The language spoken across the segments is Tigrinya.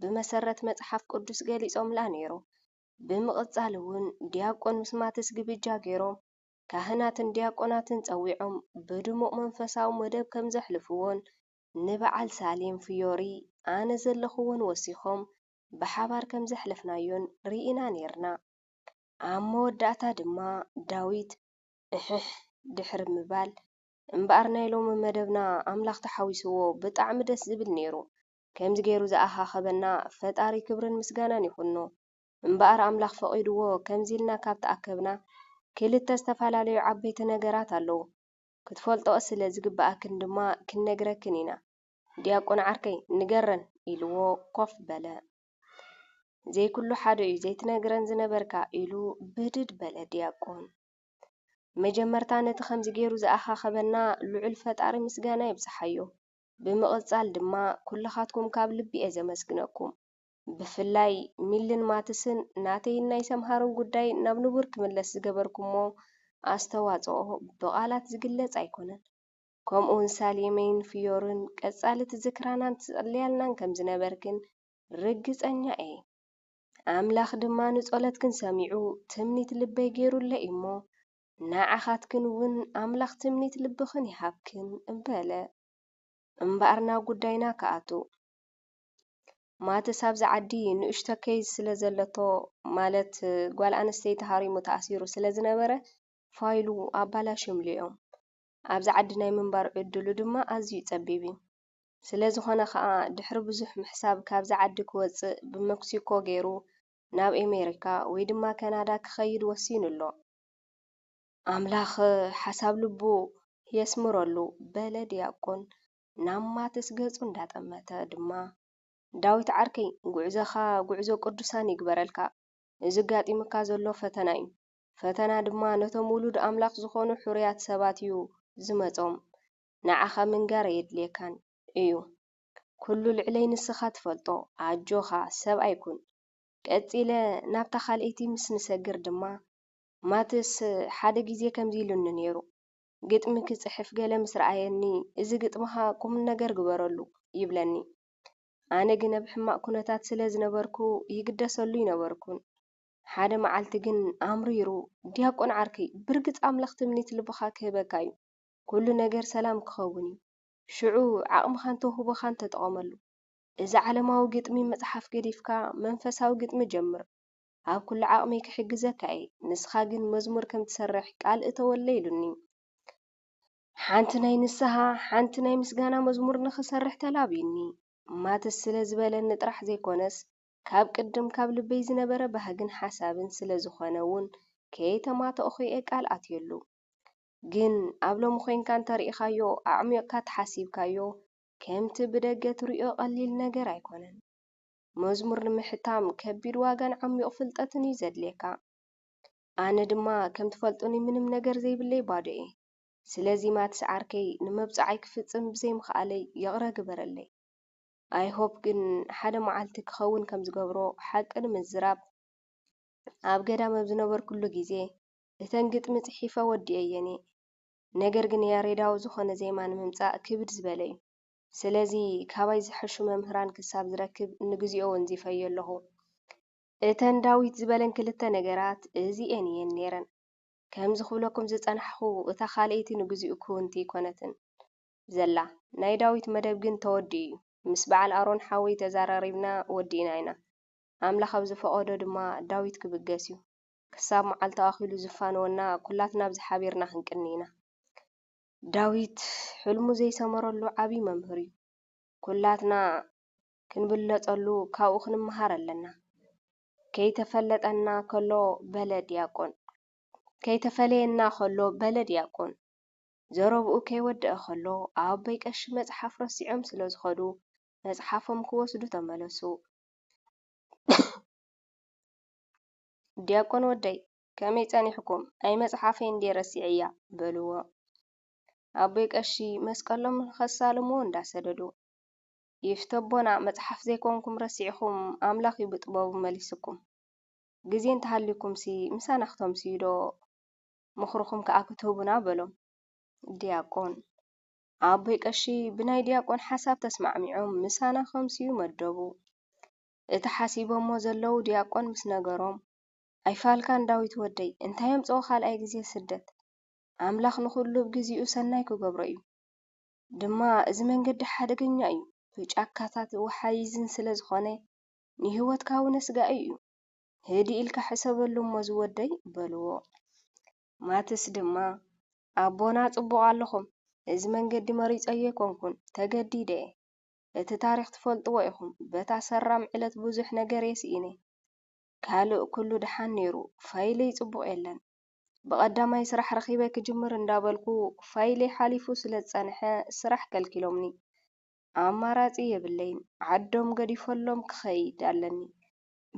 ብመሰረት መጽሓፍ ቅዱስ ገሊጾምላ ነይሩ። ብምቕጻል እውን ዲያቆን ምስ ማትስ ግብጃ ገይሮም፣ ካህናትን ዲያቆናትን ጸዊዖም ብድሙቕ መንፈሳዊ መደብ ከም ዘሕልፍዎን ንበዓል ሳሌም ፍዮሪ ኣነ ዘለኹዎን ወሲኾም ብሓባር ከም ዘሕለፍናዮን ርኢና ነይርና። ኣብ መወዳእታ ድማ ዳዊት እሕሕ ድሕሪ ምባል እምበኣር ናይ ሎሚ መደብና ኣምላኽ ተሓዊስዎ ብጣዕሚ ደስ ዝብል ነይሩ ከምዚ ገይሩ ዝኣኻኸበና ፈጣሪ ክብርን ምስጋናን ይኹኖ። እምበኣር ኣምላኽ ፈቒድዎ ከምዚ ኢልና ካብ ተኣከብና ክልተ ዝተፈላለዩ ዓበይቲ ነገራት ኣለዉ። ክትፈልጥኦ ስለ ዝግብኣክን ድማ ክንነግረክን ኢና። ዲያቆን ዓርከይ ንገረን ኢልዎ ኮፍ በለ። ዘይኩሉ ሓደ'ዩ ዘይትነግረን ዝነበርካ ኢሉ ብድድ በለ ዲያቆን። መጀመርታ ነቲ ከምዚ ገይሩ ዝኣኻኸበና ልዑል ፈጣሪ ምስጋና ይብጽሓዮ። ብምቕጻል ድማ ኩልኻትኩም ካብ ልቢ እየ ዘመስግነኩም። ብፍላይ ሚልን ማትስን ናተይን ናይ ሰምሃርን ጉዳይ ናብ ንቡር ክምለስ ዝገበርኩሞ ኣስተዋጽኦ ብቓላት ዝግለጽ ኣይኮነን። ከምኡውን ሳሌመይን ፍዮርን ቀጻሊ ትዝክራናን ትጽልያልናን ከም ዝነበርክን ርግጸኛ እየ። ኣምላኽ ድማ ንጸሎትክን ሰሚዑ ትምኒት ልበይ ገይሩለይ እዩሞ ንዓኻትክን እውን ኣምላኽ ትምኒት ልብኽን ይሃብክን እበለ። እምበኣር ናብ ጉዳይና ክኣቱ። ማትስ ኣብዚ ዓዲ ንእሽቶ ኬዝ ስለ ዘለቶ ማለት ጓል ኣንስተይቲ ሃሪሙ ተኣሲሩ ስለ ዝነበረ ፋይሉ ኣባላሽዮምሉ እዮም። ኣብዚ ዓዲ ናይ ምንባር ዕድሉ ድማ ኣዝዩ ጸቢብ እዩ። ስለ ዝኾነ ከኣ ድሕሪ ብዙሕ ምሕሳብ ካብዚ ዓዲ ክወጽእ ብመክሲኮ ገይሩ ናብ ኤሜሪካ ወይ ድማ ከናዳ ክኸይድ ወሲኑ ኣሎ። ኣምላኽ ሓሳብ ልቡ የስምረሉ በለ ዲያቆን ናብ ማትስ ገጹ እንዳጠመተ ድማ። ዳዊት ዓርከይ ጉዕዞኻ ጉዕዞ ቅዱሳን ይግበረልካ እዚ ኣጋጢሙካ ዘሎ ፈተና እዩ ፈተና ድማ ነቶም ውሉድ ኣምላኽ ዝኾኑ ሕሩያት ሰባት እዩ ዝመጾም ንዓኻ ምንጋር ኣየድልየካን እዩ ኩሉ ልዕለይ ንስኻ ትፈልጦ ኣጆኻ ሰብኣይ ኩን ቀጺለ ናብታ ካልኣይቲ ምስ ንሰግር ድማ፣ ማትስ ሓደ ግዜ ከምዚ ኢሉኒ ነይሩ፣ ግጥሚ ክጽሕፍ ገለ ምስ ረኣየኒ፣ እዚ ግጥምኻ ቁምነገር ግበረሉ ይብለኒ። ኣነ ግን ኣብ ሕማቕ ኵነታት ስለ ዝነበርኩ ይግደሰሉ ኣይነበርኩን። ሓደ መዓልቲ ግን ኣምሪሩ፣ ዲያቆን ዓርከይ፣ ብርግጽ ኣምላኽ ትምኒት ልብኻ ክህበካ እዩ። ኵሉ ነገር ሰላም ክኸውን እዩ። ሽዑ ዓቕምኻን ተውህቦኻን ተጠቐመሉ። እዚ ዓለማዊ ግጥሚ ምጽሓፍ ገዲፍካ መንፈሳዊ ግጥሚ ጀምር ኣብ ኩሉ ዓቅመይ ክሕግዘካ እየ ንስካ ግን መዝሙር ከም ትሰርሕ ቃል እተወለይ ኢሉኒ ሓንቲ ናይ ንስሃ ሓንቲ ናይ ምስጋና መዝሙር ንክሰርሕ ተላብዩኒ ማትስ ስለ ዝበለኒ ጥራሕ ዘይኮነስ ካብ ቅድም ካብ ልበይ ዝነበረ ባህግን ሓሳብን ስለ ዝኮነ ውን ከየተማተእኩ እየ ቃል ኣትየሉ ግን ኣብ ሎሚ ኮይንካ እንተሪኢካዮ ኣዕሚቅካ ተሓሲብካዮ ከምቲ ብደገ ትርእዮ ቀሊል ነገር ኣይኮነን። መዝሙር ንምሕታም ከቢድ ዋጋን ዓሚቝ ፍልጠትን እዩ ዘድልየካ። ኣነ ድማ ከም ትፈልጡኒ ምንም ነገር ዘይብለይ ባዶ እየ። ስለዚ ማትስ ዓርከይ ንመብጽዓይ ክፍጽም ብዘይ ምኽኣለይ ይቕረ ግበረለይ። ኣይ ሆፕ ግን ሓደ መዓልቲ ክኸውን ከም ዝገብሮ ሓቂ ንምዝራብ ኣብ ገዳም ኣብ ዝነበርኩሉ ግዜ እተን ግጥሚ ጽሒፈ ወዲኤየን እየ። ነገር ግን ያሬዳዊ ዝኾነ ዜማ ንምምጻእ ክብድ ዝበለ እዩ። ስለዚ ካባይ ዝሐሹ መምህራን ክሳብ ዝረክብ ንግዚኦ ወንዚፈዮ ኣለኹ። እተን ዳዊት ዝበለን ክልተ ነገራት እዚኤን እየን ኔረን። ከምዚ ክብለኩም ዝጸናሕኹ እታ ካልኣይቲ ንግዚኡ ክውንቲ ኣይኮነትን ዘላ። ናይ ዳዊት መደብ ግን ተወዲኡ እዩ። ምስ በዓል ኣሮን ሓወይ ተዛራሪብና ወዲእና ኢና። ኣምላኽ ኣብ ዝፈቐዶ ድማ ዳዊት ክብገስ እዩ። ክሳብ መዓልቲ ኣኺሉ ዝፋነወና ኩላትና ኣብዚ ሓቢርና ክንቅኒ ኢና። ዳዊት ሕልሙ ዘይሰመረሉ ዓቢ መምህር እዩ። ኩላትና ክንብለጸሉ ካብኡ ክንመሃር ኣለና። ከይተፈለጠና ከሎ በለ ድያቆን ከይተፈለየና ከሎ በለ ድያቆን ዘረብኡ ከይወደኣ ከሎ ኣቦይ ቀሺ መጽሓፍ ረሲዖም ስለ ዝኸዱ መጽሓፎም ክወስዱ ተመለሱ። ዲያቆን ወደይ ከመይ ጸኒሕኩም ኣይ መጽሓፈይ እንዴ ረሲዐያ በልዎ ኣቦይ ቀሺ መስቀሎም ንኸሳልምዎ እንዳሰደዱ ይፍተ ኣቦና መጽሓፍ ዘይኮንኩም ረሲዕኹም ኣምላኽ እዩ ብጥበቡ መሊስኩም ግዜ እንተሃልዩኩምሲ ምሳና ክተምስዩ ዶ ምኽርኹም ከኣ ክትህቡና በሎም ዲያቆን ኣቦይ ቀሺ ብናይ ዲያቆን ሓሳብ ተስማዕሚዖም ምሳና ከምስዩ መደቡ እቲ ሓሲቦሞ ዘለዉ ድያቆን ምስ ነገሮም፣ ኣይፋልካን ዳዊት ወደይ፣ እንታይ ኣምጽኦ ካልኣይ ግዜ ስደት፣ ኣምላኽ ንኹሉ ብ ግዚኡ ሰናይ ክገብሮ እዩ፣ ድማ እዚ መንገዲ ሓደገኛ እዩ፣ ብ ጫካታት ወሓይዝን ስለ ዝኾነ ንሂወትካ ውን ኣስጋኢ እዩ፣ ህድእ ኢልካ ሕሰበሉ እሞ ዝወደይ በልዎ። ማትስ ድማ ኣቦና ጽቡቕ ኣለኹም፣ እዚ መንገዲ መሪጸዮ ኣይኮንኩን፣ ተገዲደ እየ፣ እቲ ታሪኽ ትፈልጥዎ ኢኹም በታ ሰራም ዕለት ብዙሕ ነገርየ ስኢነ ካልእ ኩሉ ድሓን ኔሩ ፋይለይ ጽቡቕ የለን ብቐዳማይ ስራሕ ረኺበ ክጅምር እንዳበልኩ ፋይለይ ሓሊፉ ስለ ዝጸንሐ ስራሕ ከልኪሎምኒ ኣማራጺ የብለይን ዓዶም ገዲፈሎም ክኸይድ ኣለኒ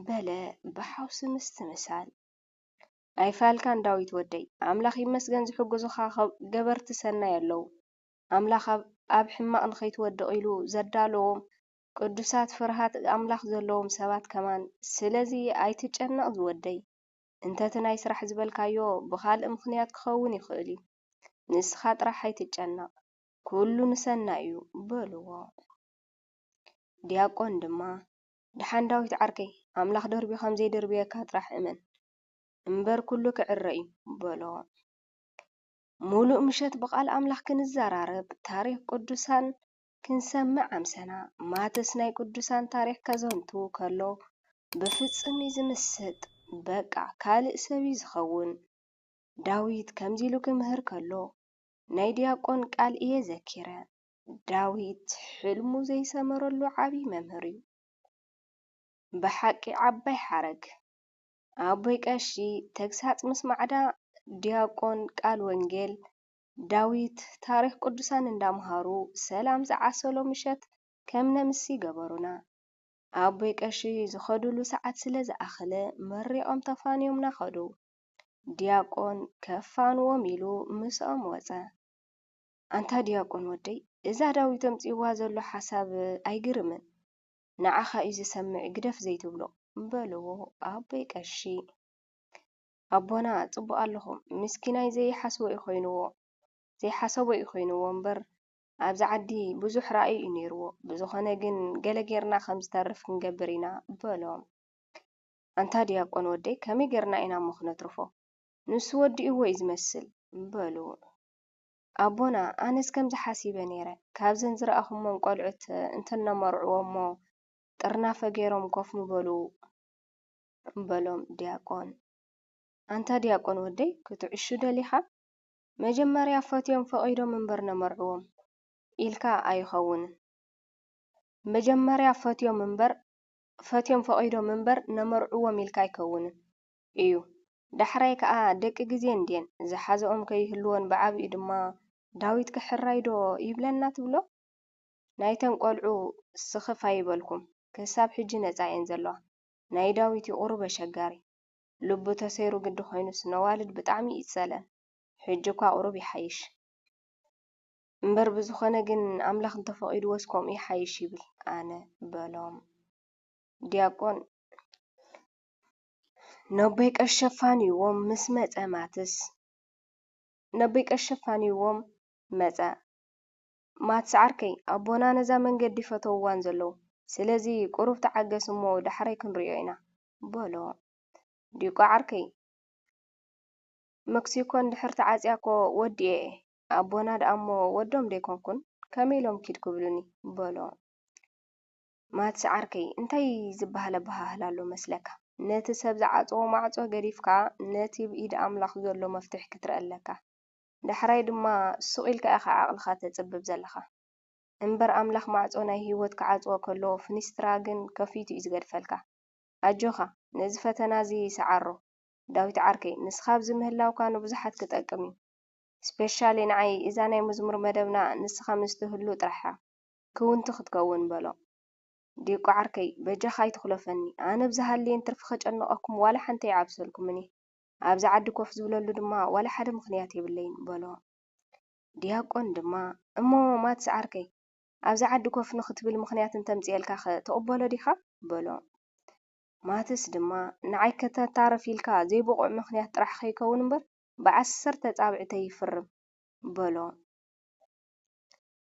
በለ ብሓውሲ ምስትምሳል። ኣይፋልካን ዳዊት ወደይ ኣምላኽ ይመስገን ዝሕጉዙኻ ገበርቲ ሰናይ ኣለው። ኣምላኽ ኣብ ሕማቕ ንኸይትወድቕ ኢሉ ዘዳለዎም ቅዱሳት ፍርሃት ኣምላኽ ዘለዎም ሰባት ከማን ስለዚ ኣይትጨነቕ ዝወደይ እንተቲ ናይ ስራሕ ዝበልካዮ ብኻልእ ምኽንያት ክኸውን ይኽእል እዩ ንስኻ ጥራሕ ኣይትጨነቕ ኩሉ ንሰናይ እዩ በልዎ ዲያቆን ድማ ድሓን ዳዊት ዓርከይ ኣምላኽ ደርብዩ ከም ዘይድርብየካ ጥራሕ እመን እምበር ኩሉ ክዕረ እዩ በሎ ሙሉእ ምሸት ብቃል ኣምላኽ ክንዛራረብ ታሪኽ ቁዱሳን ክንሰምዕ ኣምሰና ማትስ ናይ ቁዱሳን ታሪኽ ከዘንቱ ከሎ ብፍጽም ዩ ዝምስጥ በቃ ካልእ ሰብ ዩ ዝኸውን ዳዊት ከምዚ ኢሉ ክምህር ከሎ ናይ ድያቆን ቃል እየ ዘኪረ ዳዊት ሕልሙ ዘይሰመረሉ ዓቢ መምህር ዩ ብሓቂ ዓባይ ሓረግ። ኣቦይ ቀሺ ተግሳጽ ምስ ማዕዳ ድያቆን ቃል ወንጌል ዳዊት ታሪኽ ቅዱሳን እንዳምሃሩ ሰላም ዝዓሰሎ ምሸት ከም ነምሲ ገበሩና። ኣቦይ ቀሺ ዝኸድሉ ሰዓት ስለ ዝኣኸለ መሪቖም ተፋንዮምና ከዱ። ድያቆን ከፋንዎም ኢሉ ምስኦም ወጸ። ኣንታ ድያቆን ወደይ እዛ ዳዊት ኣምጺእዋ ዘሎ ሓሳብ ኣይግርምን? ንዓኻ እዩ ዝሰምዕ ግደፍ ዘይትብሎ በልዎ ኣቦይ ቀሺ። ኣቦና ጽቡቅ ኣለኹም ምስኪናይ ዘይሓስቦ እዩ ኮይንዎ ዘይሓሰቦ እዩ ኮይንዎ እምበር ኣብዚ ዓዲ ብዙሕ ራኢ እዩ ኔርዎ ብዝኾነ ግን ገለ ጌርና ከም ዝተርፍ ክንገብር ኢና በሎም። ኣንታ ድያቆን ወደይ ከመይ ጌርና ኢና እሞ ክነትርፎ ንሱ ወዲእዎ እዩ ዝመስል በሉ። ኣቦና ኣነስ ከምዚ ሓሲበ ኔረ ካብዘን ዝረኣኹሞን ቆልዑት እንተነመርዕዎሞ ጥርናፈ ጌሮም ኮፍ ምበሉ በሎም ድያቆን። ኣንታ ድያቆን ወደይ ክትዕሹ ደሊኻ? መጀመርያ ፈትዮም ፈቒዶም እምበር ነመርዕዎም ኢልካ ኣይኸውንን መጀመርያ ፈትዮም እምበር ፈትዮም ፈቒዶም እምበር ነመርዕዎም ኢልካ ኣይከውንን ኢዩ። ዳሕራይ ከኣ ደቂ ግዜ እንድየን ዝሓዘኦም ከይህልዎን ብዓቢኡ ድማ ዳዊት ክሕራይ ዶ ይብለና ትብሎ? ናይተን ቆልዑ ስኽፍ ኣይበልኩም ክሳብ ሕጂ ነጻ እየን ዘለዋ ናይ ዳዊት ዩ ቁሩብ ኣሸጋሪ ልቡ ተሰይሩ ግዲ ኮይኑስ ነዋልድ ብጣዕሚ እዩ ዝጸልኣን ሕጂ እኳ ቁሩብ ይሓይሽ እምበር ብዝኾነ ግን ኣምላኽ እንተፈቂድዎስ ከምኡ ይሓይሽ ይብል ኣነ በሎም ድያቆን ነቦይ ቀሺ ኣፋንይዎም ምስ መጸ ማትስ ነቦይ ቀሺ ኣፋንይዎም መጸ። ማትስ ዓርከይ ኣቦና ነዛ መንገዲ ፈተዉዋን ዘለዉ ስለዚ ቁሩብ ተዓገስ እሞ ዳሕራይ ክንሪኦ ኢና በሎ። ዲቋ ዓርከይ መክሲኮ እንድሕር ተዓጽያ እኮ ወዲኤ እየ ኣቦና ደኣ እሞ ወዶም ደይኮንኩን ከመይ ኢሎም ኪድ ክብሉኒ በሎ። ማትስ ዓርከይ፣ እንታይ ዚብሃል ኣበሃህላ ኣሎ መስለካ? ነቲ ሰብ ዝዓጸዎ ማዕጾ ገዲፍካ፣ ነቲ ብ ኢድ ኣምላኽ ዘሎ መፍትሕ ክትርኢ ኣለካ። ዳሕራይ ድማ ሱቕ ኢልካ ኢኻ ዓቕልኻ ተጽብብ ዘለኻ። እምበር ኣምላኽ ማዕጾ ናይ ህይወት ክዓጽዎ ከሎ፣ ፍኒስትራ ግን ከፊቱ እዩ ዝገድፈልካ። ኣጆኻ፣ ነዚ ፈተና እዚ ስዓሮ። ዳዊት ዓርከይ፣ ንስኻ ኣብዚ ምህላውካ ንብዙሓት ክጠቅም እዩ። ስፔሻሊ ንዓይ እዛ ናይ መዝሙር መደብና ንስኻ ምስ ትህሉ ጥራሕ እያ። ክውንቲ ክትከውን በሎ። ዲቋ ዓርከይ፣ በጃኻ ኣይትኹለፈኒ፣ ኣነ ብዝሃልየኒ ትርፊ ከጨንቐኩም ዋላ ሓንቲ ኣይዓብሰልኩምን እየ። ኣብዚ ዓዲ ኮፍ ዝብለሉ ድማ ዋላ ሓደ ምኽንያት የብለይን በሎ። ዲያቆን ድማ፣ እሞ ማትስ ዓርከይ፣ ኣብዚ ዓዲ ኮፍ ንኽትብል ምኽንያት እንተምጺኤልካኸ ትቕበሎ ዲኻ? በሎ። ማትስ ድማ፣ ንዓይ ከተታርፍ ኢልካ ዘይብቑዕ ምኽንያት ጥራሕ ከይከውን እምበር ብዓሰርተ ኣጻብዕተይ ይፍርም በሎ።